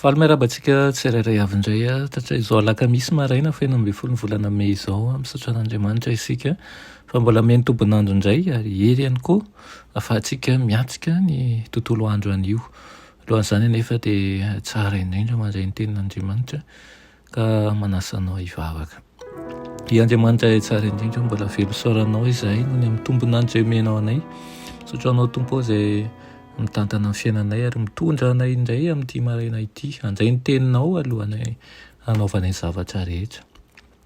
Faly miarahaba antsika tsirairay avy indray hatrizao alakamisy maraina feno ambin'ny folo ny volana mey izao. Misaotra an'Andriamanitra isika fa mbola mihaino tombon'andro indray ary hery ihany koa ahafahantsika miatrika ny tontolo andro anio. Alohan'izany anefa dia tsara indrindra mandray ny tenin'Andriamanitra. Ka manasa anao hivavaka. Ry Andriamanitra Ray tsara indrindra, mbola velo isaoranao izahay noho ny amin'ny tombon'andro izay omenao anay. Misaotra anao Tompo ao izay mitantana ny fiainanay ary mitondra anay indray amin'ity maraina ity handray ny teninao alohanay hanaovanay zavatra rehetra.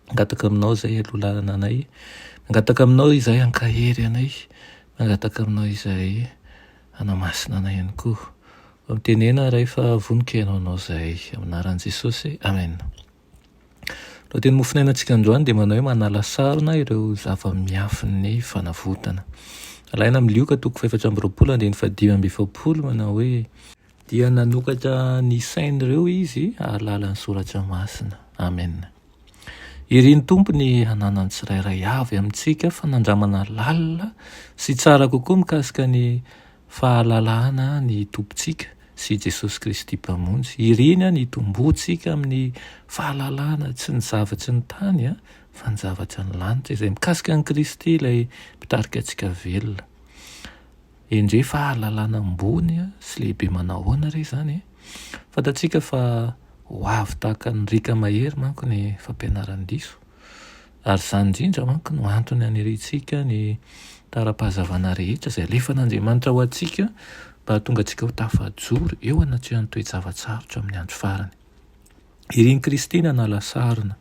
Mangataka aminao izay aloha lalana anay. Mangataka aminao izahay hankahery anay. Mangataka aminao izahay. Hanamasina anay ihany koa. Mba mitenena Ray fa vonoka ianao hanao izay. Amin'ny anaran'i Jesosy. Amen. Ny lohateny mofonainantsika androany dia manao hoe manala sarona ireo zava-miafin'ny fanavotana. Alaina amin'ny Lioka toko fahefatra amby roapolo andininy fahadimy amby efapolo manao hoe. Dia nanokatra ny sain'ireo izy ahalàlan'ny soratra masina. Amen. Iry ny Tompo ny hananan'ny tsirairay avy amintsika fanandramana lalina sy tsara kokoa mikasika ny fahalalana ny Tompontsika sy Jesosy Kristy Mpamonjy. Iry ny an hitomboantsika amin'ny fahalalana tsy ny zavatry ny tany an, fa ny zavatry ny lanitra, izay mikasika an'i Kristy ilay mpitarika antsika velona. Endrey fahalalana ambony sy lehibe manahoana re izany e! Fantatsika fa ho avy tahaka ny riaka mahery manko ny fampianaran-diso, ary izany indrindra manko no antony aniriantsika ny tara-pahazavana rehetra izay alefan'Andriamanitra ho antsika mba hahatonga antsika ho tafajoro eo anatrehan'ny toe-java-tsarotra amin'ny andro farany. Irin'i Kristy nanala sarona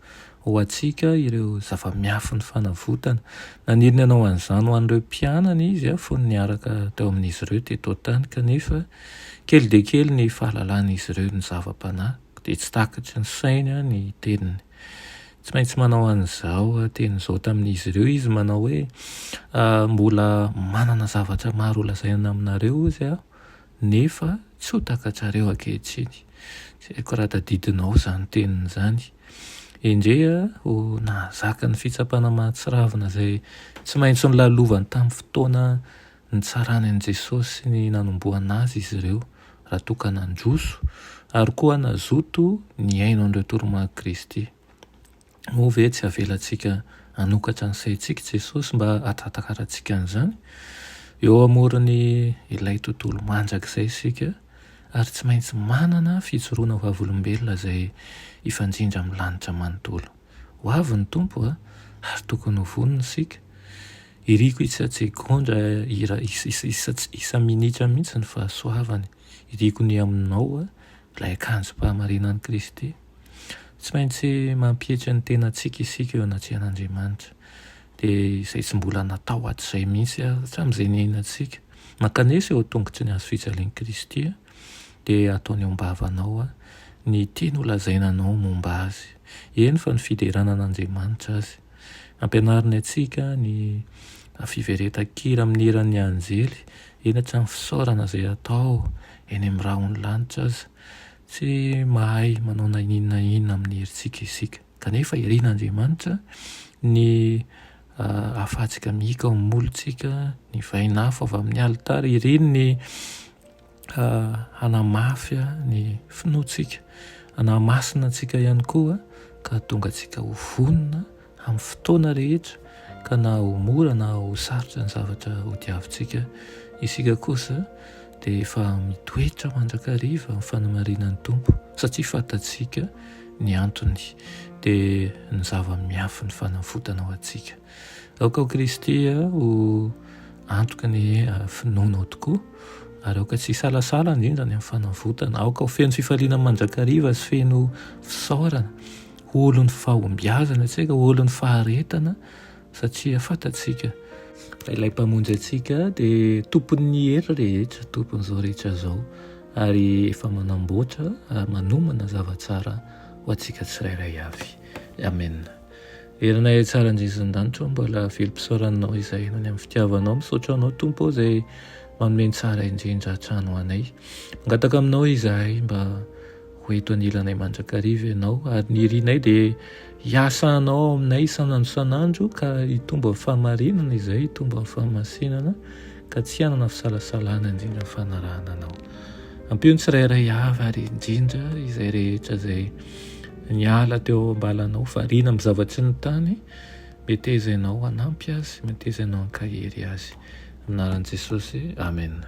ho antsika ireo zava-miafin'ny fanavotana. Naniry ny hanao an'izany ho an'ireo mpianany izy fony niaraka teo amin'izy ireo teto an-tany, kanefa kely dia kely ny fahalalan'izy ireo ny zava-panahy, dia tsy takatry ny sainy ny teniny. Tsy maintsy manao an'izao teny izao tamin'izy ireo izy, manao hoe, Mbola manana zavatra maro holazaina aminareo hozy aho, nefa tsy ho takatrareo ankehitriny. Tsy haiko raha tadidinao izany teniny izany. Endrey ho nahazaka ny fitsapana mahatsiravina izay tsy maintsy nolalovany tamin'ny fotoana nitsarany an'i Jesosy sy ny nanomboana Azy izy ireo, raha toa ka nandroso ary koa nazoto nihaino an'ireo toromarik'i Kristy. Moa ve tsy avelantsika hanokatra ny saintsika i Jesosy mba hahatakarantsika an'izany? Eo amoron'ny ilay tontolo mandrakizay isika, ary tsy maintsy manana fijoroana vavolombelona izay hifanjindra amin'ny lanitra manontolo. Ho avy ny Tompo, ary tokony ho vonona isika. Iriko isa-tsegondra, isa-minitra mihitsy ny fahasoavany. Iriko ny aminao ilay akanjom-pahamarinan'i Kristy. Tsy maintsy mampietry ny tenantsika isika eo anatrehan'Andriamanitra. Dia izay tsy mbola natao hatrizay mihitsy ary hatramin'izay niainantsika. Mankanesa eo an-tongotry ny hazo fijalian'i Kristy dia ataony eo am-bavanao ny tiany holazaina anao momba Azy, eny fa ny fiderana an'Andriamanitra aza. Ampianariny antsika ny fiveretan-kira amin'ny hiran'ny anjely, eny hatramin'ny fisaorana izay atao eny amin'ny rahon'ny lanitra aza. Tsy mahay manao na inona na inona amin'ny herintsika isika. Kanefa irin'Andriamanitra ny hafantsika mihiaka ao amin'ny molotsika, ny vain'afo avy amin'ny alitara, iriny ny hanamafy ny finoantsika, hanamasina antsika ihany koa ka hahatonga antsika ho vonona amin'ny fotoana rehetra ka na ho mora na ho sarotra ny zavatra hodiavintsika, isika kosa dia efa mitoetra mandrakariva amin'ny fanamarinan'ny Tompo satria fantatsika ny antony, dia ny zava-miafin'ny fanavotana ho antsika. Aoka ao Kristy ho antoky ny finoanao tokoa ary aoka tsy hisalasala indrindra ny amin'ny fanavotana, aoka ho feno fifaliana mandrakariva sy feno fisaorana olon'ny fahombiazana isika, olon'ny faharetana satria fantatsika fa ilay mpamonjy antsika dia tompon'ny hery rehetra, tompon'izao rehetra izao ary efa manamboatra ary manomana zava-tsara ho antsika tsirairay avy. Amen. Herina e tsara Jesoa an-danitra ô, mbola velom-pisaorananao izay any amin'ny fitiavanao. Misaotra anao Tompo ô izay manome ny tsara indrindra hatrany ho anay. Mangataka aminao izahay mba Ho eto anilanay mandrakariva ianao ary ny irinay dia hiasa anao ao aminay isan'andro isan'andro ka hitombo amin'ny fahamarinana izay hitombo amin'ny fahamasinana ka tsy hanana fisalasalana indrindra fanarahana anao. Ampio ny tsirairay avy ary indrindra izay rehetra izay niala teo ambalanao variana amin'ny zavatsy ny tany meteza ianao hanampy azy meteza ianao hankahery azy. Anaran'i Jesosy. Amen.